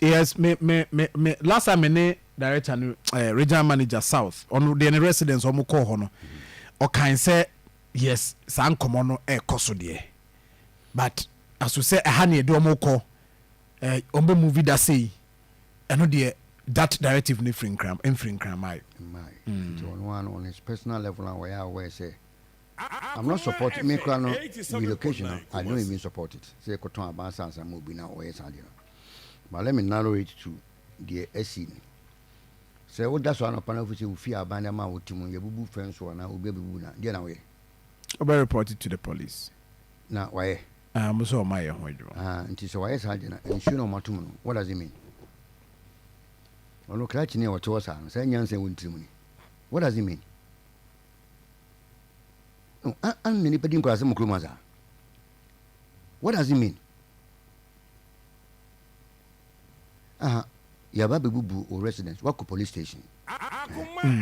Yes, me me me me last time me ne director no eh, regional manager south ɔno deɛ ne residence ɔmo kɔɔ hɔ no ɔkan sɛ yes saa nkɔmɔ no ɛkɔ so deɛ but aso sɛ ɛha ne ɛde ɔmo kɔ eh, ɔmo bɛ movie da sei ɛno deɛ that directive no firi nkram mfiri nkran maayo. Mmae. Nti ɔno ara no on his personal level a ɔyɛ aware sɛ I'm not support me koraa no relocation no I don't even support it sɛ yɛkɔ tɔn aban sɛ ansa ma obi na ɔyɛ saa deɛ no but let me narrow it to deɛ asi no sɛ woda so anɔpa na wofi sɛ wofie aban de ama a wote mu yɛbubu fɛn so anaa obi abubu na deɛ na woyɛ Ɔbɛ report it to the police. na wayɛ Ah, ɔmo sɛ ɔmo ayɛ ho adwuma. ah nti sɛ wayɛ saa deɛ no nsuo na ɔmo ato mu no what does it mean ɔno krakyeni a ɔte hɔ saa no saa nyansa a ɛwɔ ne tiri mu ni what does it mean. No, an na nipa di nkuraase mo kurom ha saa? What does it mean? Aha, yɛaba abɛbubu wo residence, woakɔ police station.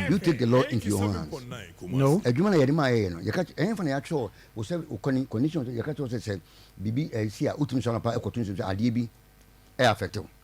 You take the law into your own hands. No. Adwuma na yɛde maa yɛyɛ no, yɛka kyerɛ, ɛhefa na yɛakyerɛ wo sɛ wo kɔni, conditions, yɛka kyerɛ wo sɛ sɛ biribi ɛsi a, wotumi sɔre anɔpa ɛkɔto nsuo sɛ adeɛ bi ɛyɛ affect wo.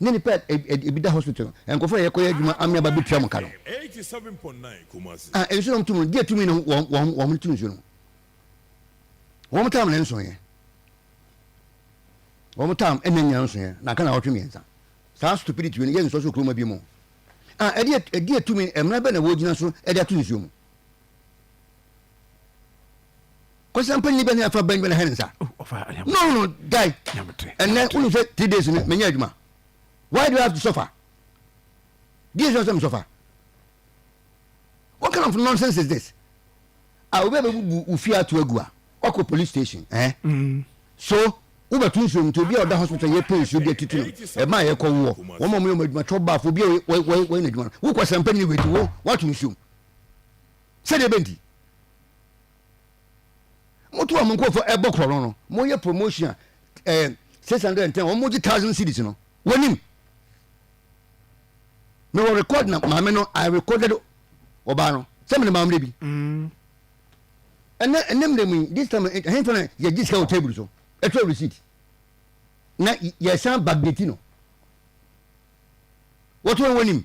ne nipa a ebi da hospital no, nkurɔfo a yɛkɔyɛ adwuma amia ba betua wɔn ka no. A nsu na wɔtum no, deɛ tumi no wɔn wɔn wɔn tu nsu no. Wɔn tam na nson yɛ. Wɔn tam ɛna nyina nson yɛ na aka na wɔtwe mmiɛnsa. Saa stupidity no yɛ nsɔ so kuroma bi mu. A ɛdeɛ ɛdeɛ tumi mmara bɛ na wɔgyina so ɛde ato nsuo mu. kɔsa mpa nyi bɛ ne afa bɛn bɛ na hɛn nsa oh, no no guy ɛnɛ wonu sɛ three days no menya adwuma why do i have to suffer deɛ sɛ sɛ suffer what kind of nonsense is this a obi a bɛbubu wo fie ato agu a wakɔ police station eh? Mm. so wobɛto nsuo mu nti obi a ɔda hospital yɛ pɛ nsuo bi atutu no ɛma a yɛkɔ woɔ wɔn a wɔyɛ wɔn adwuma twɔ baafo obi a wɔyɛ n'adwuma no wokɔ sɛmpɛ ne wɛti wo wato nsuo mu sɛdeɛ ɛbɛnti moto a mo nkurɔfoɔ ɛbɔ korɔ no no moyɛ promotion a ɛɛ eh, six hundred and ten wɔn mogye thousand cities no wɔnim mewɔ record na maame no i recorded ɔbaa no sɛ mene maame no bi mm. ɛnɛ ɛnɛ mmerɛ mu yi this time ɛhɛn fana yɛgye sika wɔ table so ɛtwerɛ receipt na yɛsan backdate no wɔto wɔn wɔnim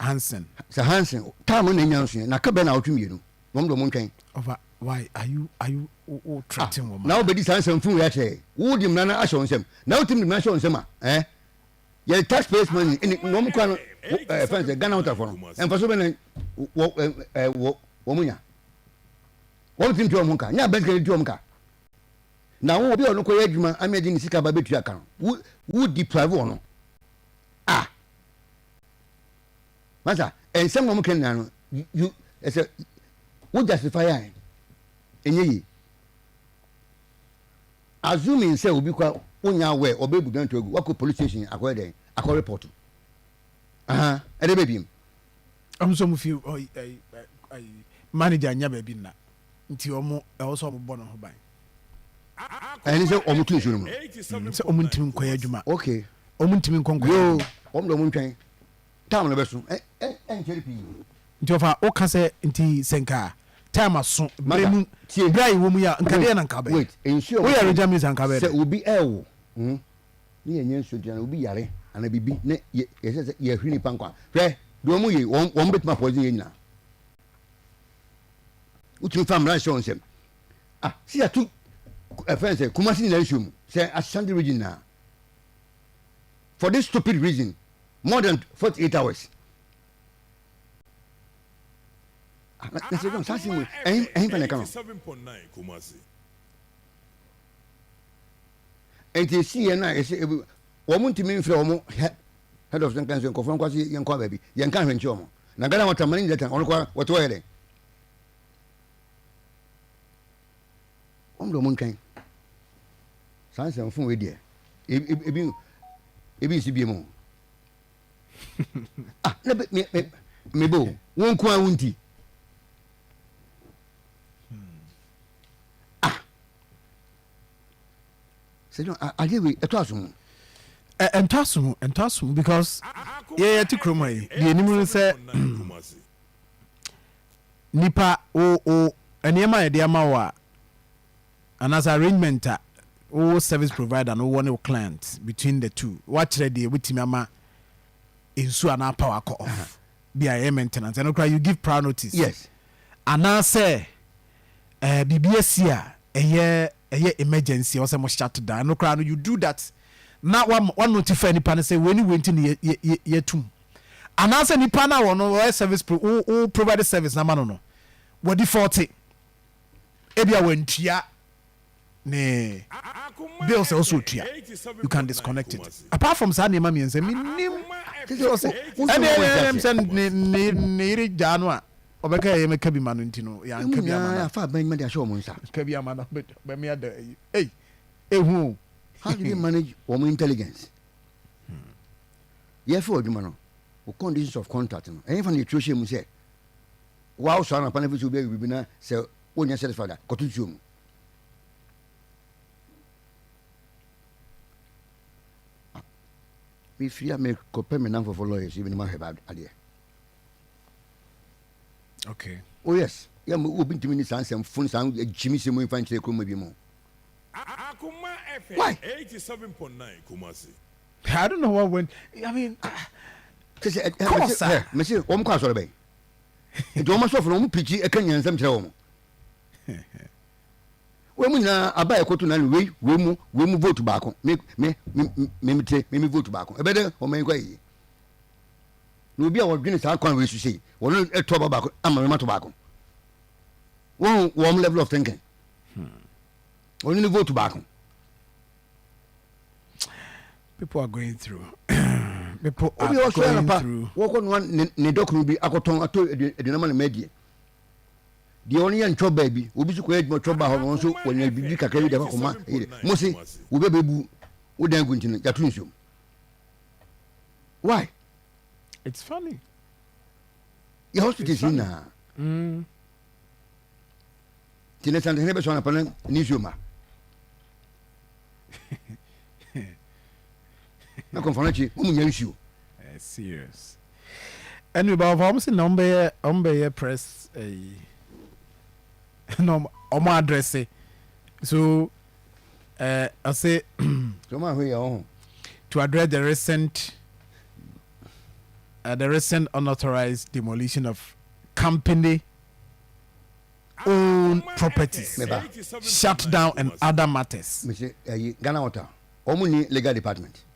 Hansen. Sɛ Hansen taa mo na enya nso yɛ na ka bɛn na awotwe mmienu wɔn de wɔn ntwɛn. Ɔfa why are you are you wo ah, threaten wɔn. Na wobɛdi saa nsɛm funu yɛ akyerɛ wo de mmara no ahyɛ wɔn nsam na wotim de mmara ahyɛ wɔn nsam a ɛɛ eh? yɛ tax payers money ɛne na wɔn kura no ɛɛ fɛn sɛ Ghana hotarfoɔ no mfaso bɛ na wɔ ɛɛ wɔ wɔn nya wɔn tim ti wɔn ka nyɛ abɛn sika ti wɔn ka. Na wo obi a ɔno kɔyɛ adwuma ama yɛde ne sika aba bɛtua ka no, wo wo deprive ɔno a masa ɛnsɛm na wɔka nyinaa no you ɛsɛ wo justify a ɛnyɛ yie assuming sɛ obi kwa wonya awɛ ɔbɛbu danto agu wakɔ police station akɔyɛ dɛn akɔ report aha ɛde bɛbiem ɔmo sɛ ɔmo fi ɔyi ɛyi ɛyi manager nya baabi nna. nti ɔmo ɛwɔ sɛ ɔmo bɔ ne ho ban. Ɛne sɛ ɔmo to nsuo no mu no. Mm, sɛ ɔmo ntumi nkɔyɛ adwuma. Okay. Ɔmo ntumi nkɔ nkɔyɛ Yoo, adwuma. ɔmo de ɔmo ntwɛn. Time no bɛso. Ɛ ɛ ɛnkyɛre pii. Nti ɔfa woka sɛ nti sɛ nka time aso, berɛ Mada, mu, tie. berɛ a yɛwɔ mu yi a, nka Wait, deɛn na nka wobɛyɛ? wait. Nsuo a Woyɛ wɔto no, Regya Minister a nka wobɛyɛ sɛ dɛn? obi ɛrewo, mm, ne yɛnyɛ nsuo nti anaa obi yare anaa biribi ne yɛ, yɛhyɛ sɛ yɛhwere nipa nkwa. Hwɛ, deɛ wɔyɛ yi, wɔn, wɔn bɛtumi apoison yɛn nyinaa. wotumi fa mmara hyɛ wɔn nsam ah si ato ɛfɛn eh, sɛ kumasi nyinaa nsuo mu sɛ ashanti region na for this stupid reason more than forty eight hours ah, na sɛ dɔn saa si mu ɛhin ɛhin fana kan nti esi yɛ na ɛsɛ ebi Wɔn ntumi mfrɛ wɔn hɛ head of nka sɛ nkɔfoɔ no nkɔ ase yɛnkɔ baabi yɛnka ahwɛ nkyerɛ wɔn na Ghana wɔn tamani nyinaa tan wɔn kɔ wɔte wɔyɛ dɛn wɔn de wɔn ntwɛn saa nsɛm fun wei deɛ ebi ebi nsi bie mu ah ne be me me me bo wɔn nko ara wɔn ti ah adeɛ wei ɛtɔ aso mu ɛntɔ aso mu ɛntɔ aso mu because yɛyɛ te kurom ha yi deɛ anim no sɛ nipa wo wo nneɛma yɛde ama wo a anaasɛ arrangement a wo service provider no wɔ ne wo client between the two wakyerɛ deɛ wobɛtumi ama nsuo anaa power kɔ off bi a ɛyɛ maintenance ɛno koraa you give prior notice yes anaasɛ Eh biribi asi a ɛyɛ ɛyɛ emergency a ɔsɛ mo shut down ɛno koraa no you do that na wama wa notify nipa no sɛ wei ne wei nti na yɛ yɛ yɛatum anaasɛ nipa no a ɔno ɔyɛ service pro wo wo provide service no ama no no wa default ebia wantua ne bills a ɔsɛ otua you can disconnect it apart from saa nneɛma mmiɛnsa menim ɛnɛm sɛ ne yere gyaa no a ɔbɛka ɛyɛ mɛka bi ma no nti no yɛanka bi ama no afa bɛn ma de ahyɛ wɔn nsa ka bi ama no bɛmi ada ei ehu o how do they manage wɔn intelligence hmm. yɛfɛ wɔ adwuma no o conditions of contract no ɛyɛ fa na yɛturo hyɛ mu sɛ wɔawosɔ anapa no afei sɛ wobɛyɛ biribi na sɛ wonyɛ satisfied a kɔto nsuo mu mefiri a mekɔpɛ me namfofo lawyers yi menom ahwɛ ba adeɛ okay oh yes yɛ mo obi ntumi ne saa nsɛm fon saa gyimi sɛ mu mfa nkyerɛ kuroma bi mu akoma fm 87.9 kumasi I don't know what went. I mean, ah, kyɛ sɛ ɛkɔ wɔ saa. mese wɔn kɔ asɔre bɛn nti wɔn asɔfo no wɔn pikyi ɛka nyansam kyerɛ wɔn Wei mu nyinaa aba yɛ koto na ne wei wei mu wei mu vote baako me me me me me te me me vote baako ɛbɛ dɛ ɔmo yɛ kɔ yie na obi a wɔdwene saa kwan wei so sei wɔn ɛtɔ ɔba baako ama mɛma to baako wɔn wɔn level of thinking wɔn ne vote baako. people are going through. people are going through. obi ɔsɔ yɛn pa wɔkɔ nua ne dɔkunu bi akɔtɔn ato aduane ma ne mɛ die. deɛ ɔno yɛ ntwɔ baa bi obi nso kɔyɛ adwuma ɔtwɔ baa hɔ no nso wɔnya biribi kakra bi de akɔkɔma yere mo se wobɛbɛbu wo dan gu nti no yɛato nsuom why it's funny yɛ hospitals nyinaa mm. nti ne santehene bɛsɔ anapa no ne nsuo ma na kɔmfa no akyi ɔmu nya nsuo eh, serious Anyway ba ɔfa ɔmo se na ɔmo bɛyɛ ɔmo bɛyɛ press ɛyi na ɔmo ɔmo adrɛse so ɛɛ ɔse So ɔmo ahwɛ yɛ ɔho. to address the recent uh, the recent unauthorized demolition of company owned properties, Me ba. shutdown and other matters. Mese ɛyi Ghana Water ɔmo ni legal department.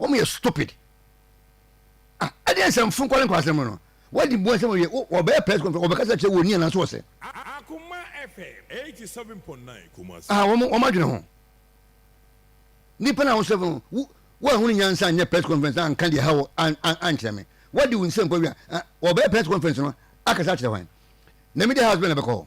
wɔn yɛ stupid ah ɛdeɛ nsɛm fun kɔle nkɔla sɛm no wadi bu nsɛm awie wɔbɛyɛ press conference wɔbɛkasa kyerɛ wɔn ni anaso wɔsɛ ah wɔn wɔn adwene ho nipa na wɔsɛ fun wo wɔahunu nyansa nyɛ press conference na nka deɛ ha wɔ an an ankyerɛ me wadi wo nsɛm kɔ wia wɔbɛyɛ press conference no akasa kyerɛ wɔn na media house bɛ na bɛkɔ hɔ.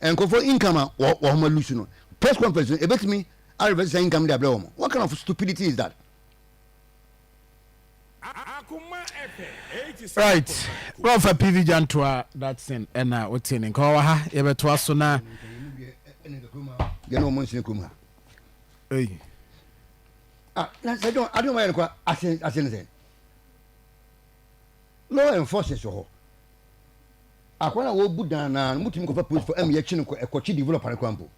Nkurɔfoɔ income a wɔ wɔn a lose no press conference no ebetumi a reverse saa income no de abrɛ wɔn. What kind of stupidity is that? Right. Bro fa PV Jantua that thing ɛna wote ne nka wɔ ha yɛbɛtoa so na yɛ na ɔmo nsene kurom ha. Ei. Ah, na sɛ dɔn adeɛ ɔmo ayɛ no kɔ ase ase ne sɛ law enforcers wɔ hɔ. Akwa no a wɔbu dannan no, motumi kɔfa polisifo ma yɛkye no kɔ ɛkɔkye developer no koraa mpo.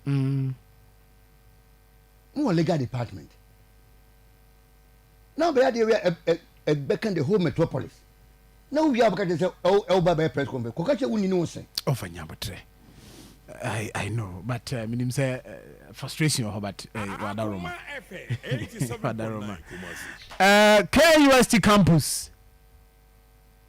Mowɔ legal department na wobɛyɛ adeɛ wei a ɛbɛka the whole metropolis na wowie a wobɛka kyerɛ sɛ ɛwoba bɛyɛ press conference kɔka kyerɛ wonni ne wo sɛ ɔfa nya botrɛ I, I know, but uh, menim sɛ uh, frustration wɔ hɔ but uh, wadaroma wadaroma uh, KUST campus